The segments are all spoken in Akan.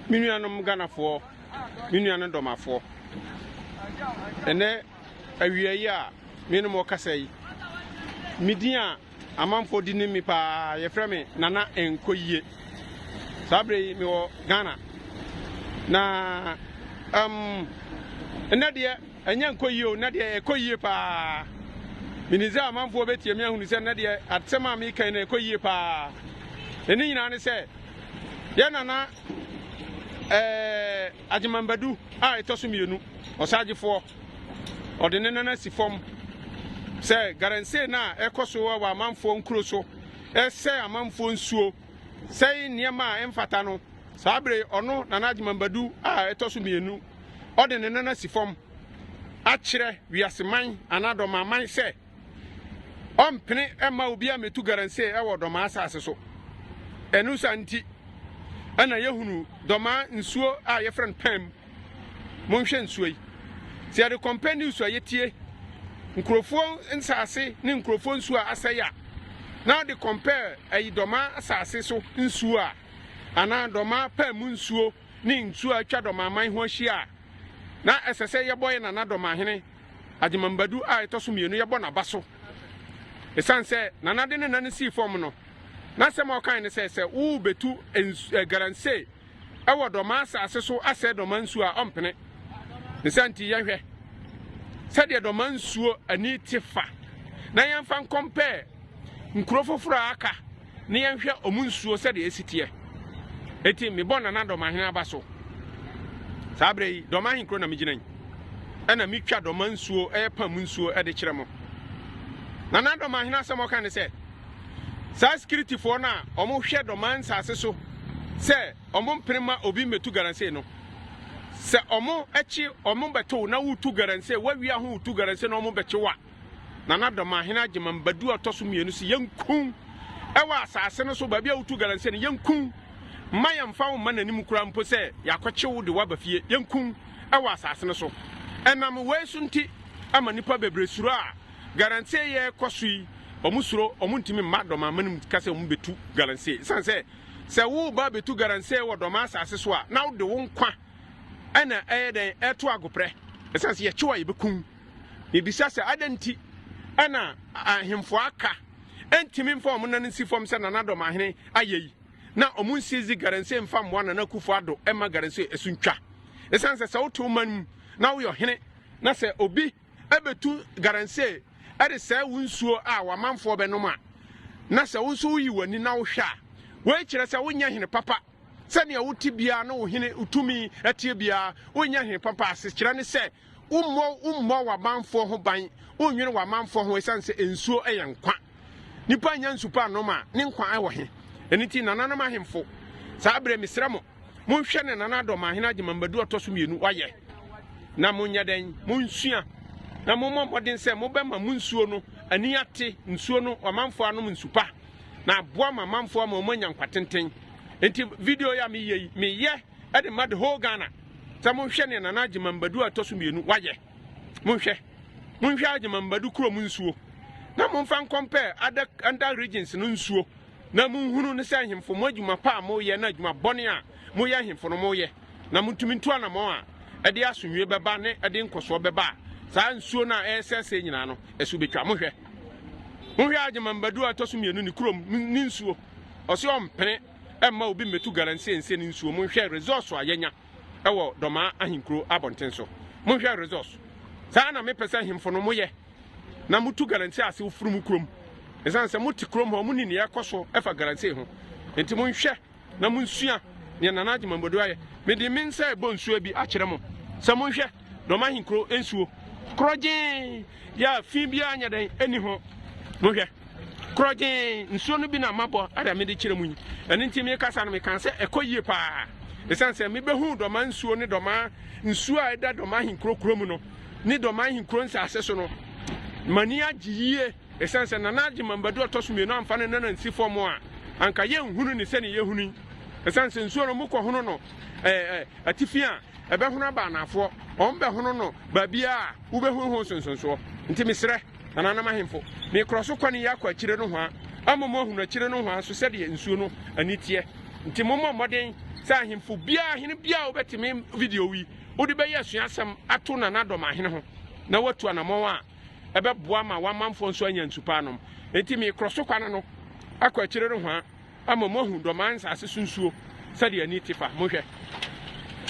Me nuanom Ghanafoɔ, me nua ne dɔmafoɔ, ɛnɛ awieeɛ a me ne mo kasa yi, me din a amanfoɔ di ne mi paa yɛfrɛ me Nana Nkoyie. Saa berɛ yi mewɔ Ghana na um, ɛnɛ deɛ Ɛnyɛ nkɔ yie o, nnɛ deɛ ɛkɔ yie pa ara. Menim sɛ amanfoɔ bɛtie me ahunu sɛ nnɛ deɛ asɛm a mereka yi no ɛkɔ yie pa ara. Na ne nyinaa ne sɛ yɛn nana ɛɛ Agyeman Badu a ɛtɔ so mmienu, ɔsagyefoɔ, ɔde ne nan asi fam sɛ garansee no a ɛkɔ so wɔ amanfoɔ nkuro so ɛsɛ amanfoɔ nsuo sɛe nneɛma a ɛmfata no, saa bere yi ɔno Nana Agyeman Badu a ɛtɔ so mmienu, ɔde ne nan asi fam akyerɛ wiase man anaa Dɔmaa man sɛ ɔmpene mma obiara mmetu garansee wɔ Dɔmaa asase so. Ɛno saa nti na yɛhunu Dɔmaa nsuo a yɛfrɛ no Pam Monhwɛ nsuo yi. Sɛ yɛde compare news a yɛtie, nkurɔfoɔ nsaase ne nkurɔfoɔ nsuo a asɛe a, na wode compare ayi dɔmaa asaase so nsuo a, anaa dɔmaa paa mu nsuo ne nsuo a atwa dɔmaaman ho ahyia a, na ɛsɛ sɛ yɛbɔ yɛ nana dɔmaahene Agyemambadu a ɛtɔ so mmienu yɛbɔ n'aba so. Ɛsiane sɛ nana de ne nane sii fam no, n'asɛm a ɔkae ne sɛ sɛ worebɛtu eh, garansee wɔ dɔmaa asase so asɛe dɔmaa nsuo a, ɔmpene. Ne saa nti yɛnhwɛ sɛdeɛ dɔmaa nsuo ani te fa na yɛmfa nkɔmpɛɛ nkuro foforɔ a aka na yɛnhwɛ ɔmo nsuo sɛdeɛ esi teɛ. Eti mebɔ Nana Dɔmahene aba so. Saa berɛ yi, Dɔmahe kuro na megyina yi. Ɛna metwa dɔmaa nsuo ɛyɛ pam nsuo ɛde kyerɛ mo. Nana Dɔmahene asɛm ɔka ne sɛ, Saa sikiritifoɔ no a wɔhwɛ dɔmaa nsaase so sɛ wɔmpene mma obi mmɛtu galamsey no, sɛ wɔkye wɔbɛto wo na wotu galamsey, woawia ho wotu galamsey na wɔbɛkye wo a, Nana Dɔmahene Agyeman Badu a ɔtɔ so mmienu se yɛnkum ɛwɔ asaase no so baabi a wotu galamsey no, yɛnkum mma yɛmfa wo mma n'anim koraa mpo sɛ yɛakɔkye wo de wo aba fie, yɛnkum ɛwɔ asaase no so. Ɛnam wei so nti ama nnipa bebree suro a Galamsey yɛ kɔ so yi, wɔn suro, wɔn ntumi mma Dɔm aman mu ka sɛ wɔn bɛtu Galamsey. Ɛsiane sɛ, sɛ woreba abɛtu Galamsey wɔ Dɔm asase so a, na wode wo nkwa ɛna ɛyɛ dɛn, ɛreto agoprɛ. Ɛsiane sɛ yɛkye wo a yɛbɛkum wo. Mebisa sɛ, adɛn nti ɛna ahemfo a aka ɛntumi mfa wɔn nan nsi fam sɛ Nana Dɔm ahene ayɛ yi, na wɔn nsizi Galamsey mfa mmoa Nana Akufo Addo mma Galamsey ɛso ntwa. Ɛsiane sɛ, sɛ wote wo man mu na woyɛ ɔhene na sɛ obi. bɛtu galamsee de sɛe wo nsuo a w'amanfoɔ bɛnom a, na sɛ wo nso woyi w'ani na wohwɛ a, wei kyerɛ sɛ wonyɛ hene papa. Sɛnea wote biara ne wo hene wo tumi teɛ biara, wonyɛ hene papa. Asekyerɛ ne sɛ, wommɔ wommɔ w'amanfoɔ ho ban, wonnwene w'amanfoɔ ho ɛsiane sɛ nsuo yɛ nkwa. Nipa nnya nsu pa nnom a, ne nkwa wɔ he? Ɛno nti, nananom ahemfo, saa berɛ mesrɛ mo, Monhwɛ ne nana Dɔmahene Agyemambadu ɔtɔ so mmienu wayɛ na monyɛ dɛn monsua na mommɔ mmɔden sɛ mobɛma mo nsuo no ani ate nsuo no amanfoɔ anom nsupa na aboa ma amanfoɔ ama wɔn anya nkwatenten nti video yi a meyɛ yi meyɛ ɛde ma the whole Ghana sɛ monhwɛ ne nana Agyemambadu ɔtɔ so mmienu wayɛ monhwɛ monhwɛ Agyemambadu kurom nsuo na momfa nkɔmpɛ ada under regions no nsuo Na monhunu ne sɛ nhemfo, mo adwuma pa a moyɛ ne adwuma bɔne a moyɛ nhemfo no moyɛ, na montumi ntu anammɔn a ɛde asomdwoe bɛba ne ɛde nkɔsoɔ bɛba a saa nsuo no a ɛresɛesɛe nyinaa no so bɛtwa. Mohwɛ, monhwɛ Agyemambadu a ɛtɔ so mmienu ne kurom ne nsuo, ɔse ɔmpene mma obi mmɛtu Galamsey nse ne nsuo. Monhwɛ resource a yɛanya wɔ Dɔmaa ahenkuro abɔnten so. Monhwɛ resource. Saa na mepɛ sɛ nhemfo no moyɛ. na motu Galamsey ase woforo mo kurom. Esiane sɛ mote kurom hɔ, munim nea ɛkɔ so fa Galamsey ho. Enti monhwɛ na munsua nea Nana Agyeman Boadu ayɛ. Mede me nsa rebɔ nsuo bi akyerɛ mo sɛ monhwɛ Dɔm Ahenkuro nsuo. Korɔgyee yɛ a fi biara nyɛ dɛn nni ho. Monhwɛ. Korɔgyee nsuo no bi na mabɔ ada mede kyerɛ mo yi. Ɛno nti mekasa no mekaa sɛ ɛkɔ yie paa. Esiane sɛ mebɛhuu Dɔmaa nsuo ne Dɔmaa nsuo a ɛda Dɔm Ahenkuro kurom no, ne Dorman Nkuro nsase so no, m'ani agye yie ɛsiane sɛ Nana Agyeman Badu ɔtɔ so mmienu amfa ne nana nsi fam a, anka yɛnhunu ne sɛdeɛ yɛhunu yi. Ɛsiane sɛ nsuo no wɔkɔhono no ɛɛ atifi a, ɛbɛhono aba anaafoɔ, wɔbɛhono no baabiara a wobɛhu ho nsonsonsoɔ. Nti mesrɛ nananom ahemfo, mekorɔ so kwan yi akɔ akyire nohoa ama mo ahunu akyire nohoa nso sɛdeɛ nsuo no ani teɛ. Nti mommɔ mmɔden sɛ ahemfo biara, hene biara a wobɛtumi video yi wode bɛyɛ asuasɛm ato nanadɔm ahene ho na woatu anammɔn a ɛbɛboa ma w'amanfoɔ nso anya nsu pa anom. Enti mekorɔ so kwane no akɔ akyire rehwaa ama moahu dɔmaa nsase so nsuo sɛdeɛ ani te fa. Monhwɛ,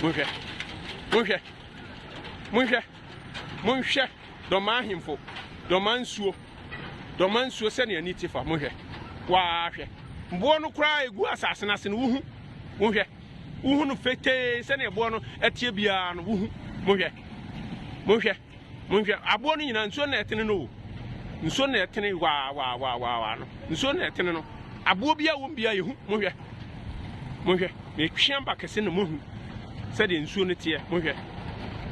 monhwɛ, monhwɛ, monhwɛ, monhwɛ dɔmaa ahemfo, dɔmaa nsuo, dɔmaa nsuo sɛdeɛ ani te fa. Monhwɛ, waa hwɛ, mboɔ no koraa ɛgu asase no ase no wohu, wonhwɛ. wohu no fetee sɛnea ɛboɔ no ɛteɛ biara no wohu mohwɛ mohwɛ mohwɛ aboɔ no nyinaa nsuo na ɛtene no o nsuo na ɛtene waa waa waa waa waa no nsuo na ɛtene no aboɔ bi a wɔn bi a yɛhu mohwɛ mohwɛ na etwea ba kɛse na mohu sɛdeɛ nsuo no teɛ mohwɛ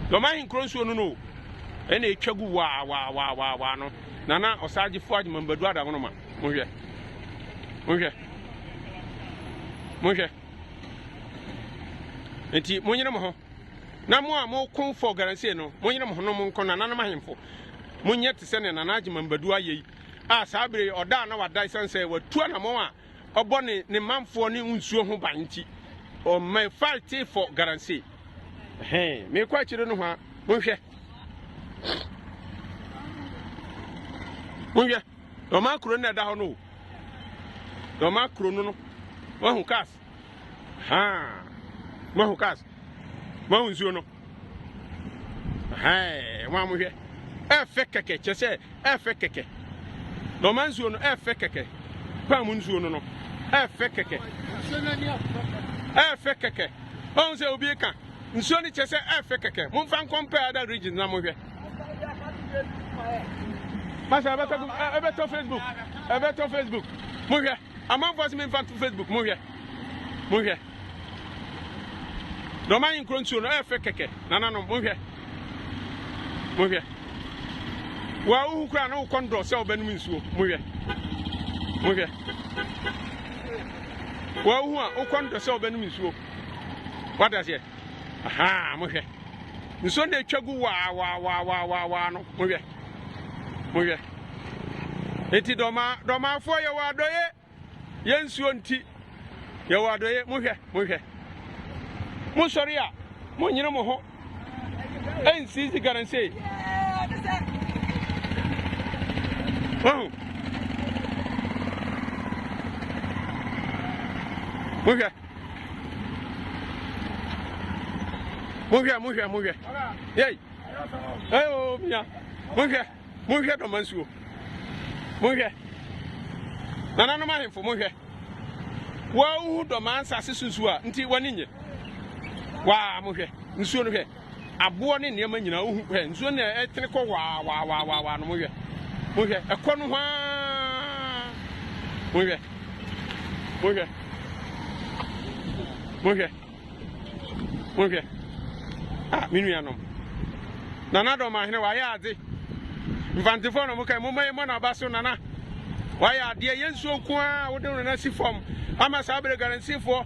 dɔm ahenkoro nsuo no no ɛna etwa gu waa waa waa waa waa no nana ɔsaagye fo adwuma mbadu adagono ma mohwɛ mohwɛ mohwɛ nti monyere mo ho na mo a moko for garansie no monyere mo ho no monkɔ nananom ahemfo monyɛ te sɛ ne nana agyema mbadu ayɛ yi a saa bere ɔda a na wada ɛsiane sɛ watu anammɔn a ɔbɔ ne ne manfoɔ ne nsuo ho ban nti ɔma fight for garansie mekɔ akyire no ho a monhwɛ monhwɛ Na ɔma kuro no na ɛda hɔ no o. Na ɔma kuro no no. Wahu cars. Haa. Wahu cars. Wahu nsuo no. Haa. Wɔn a mohwɛ. Ɛfɛ kɛkɛ kyɛ sɛ ɛfɛ kɛkɛ. Na ɔma nsuo no ɛfɛ kɛkɛ. Pam nsuo no no. Ɛfɛ kɛkɛ. Ɛfɛ kɛkɛ. Ɔhu sɛ obi ka. Nsuo no kyɛ sɛ ɛfɛ kɛkɛ. Momfa nkɔmpɛ ada region na mohwɛ. Masa ebe to ebe to Facebook. Ebe to Facebook. Mo hwɛ. Amanfoɔ se memfa to Facebook. Mo hwɛ. Mo hwɛ. Na ɔma nkuro nsuo no ɛfɛ kɛkɛ. Nananom mo hwɛ. Mo hwɛ. Wa uhu kura na ukɔ ndɔ sɛ ɔbɛnum nsuo. Mo hwɛ. Mo hwɛ. Wa uhu a ukɔ ndɔ sɛ ɔbɛnum nsuo. Wadaseɛ. Ahaa, mohwɛ. Nsuo no na ɛtwa gu waawaawaawaawaa no. Mohwɛ. Mohwɛ. Enti dɔmaa, dɔmaafoɔ yɛwɔ adɔye. Yɛ nsuo nti. Yɛwɔ adɔye. Mohwɛ. Mohwɛ. Mosɔre a, monyere mo ho. Ɛnsi sika no sei. Wahu. Mohwɛ. Monhwɛ monhwɛ monhwɛ. Yei. Ɛyɛ o mia. Monhwɛ monhwɛ dɔma nsuo. Monhwɛ. Nananom ahemfo monhwɛ. Wɔahu dɔma nsase so nsuo a nti w'ani nye. Waa monhwɛ nsuo no hwɛ. Aboɔ ne nneɛma nyinaa, wohu, hwɛ, nsuo no na ɛtene kɔ hwaawaawaawaawaa no, monhwɛ, monhwɛ, ɛkɔ no hwaa, monhwɛ, monhwɛ, monhwɛ, monhwɛ, ah, me nuanom, Nana Dɔmahene, wayɛ adze, mfantefoɔ na mokae, momma yɛmmɔ n'aba so, Nana, wayɛ adeɛ, yɛ nsuo nko ara a wode no na si fam, ama saa berɛ garansifoɔ,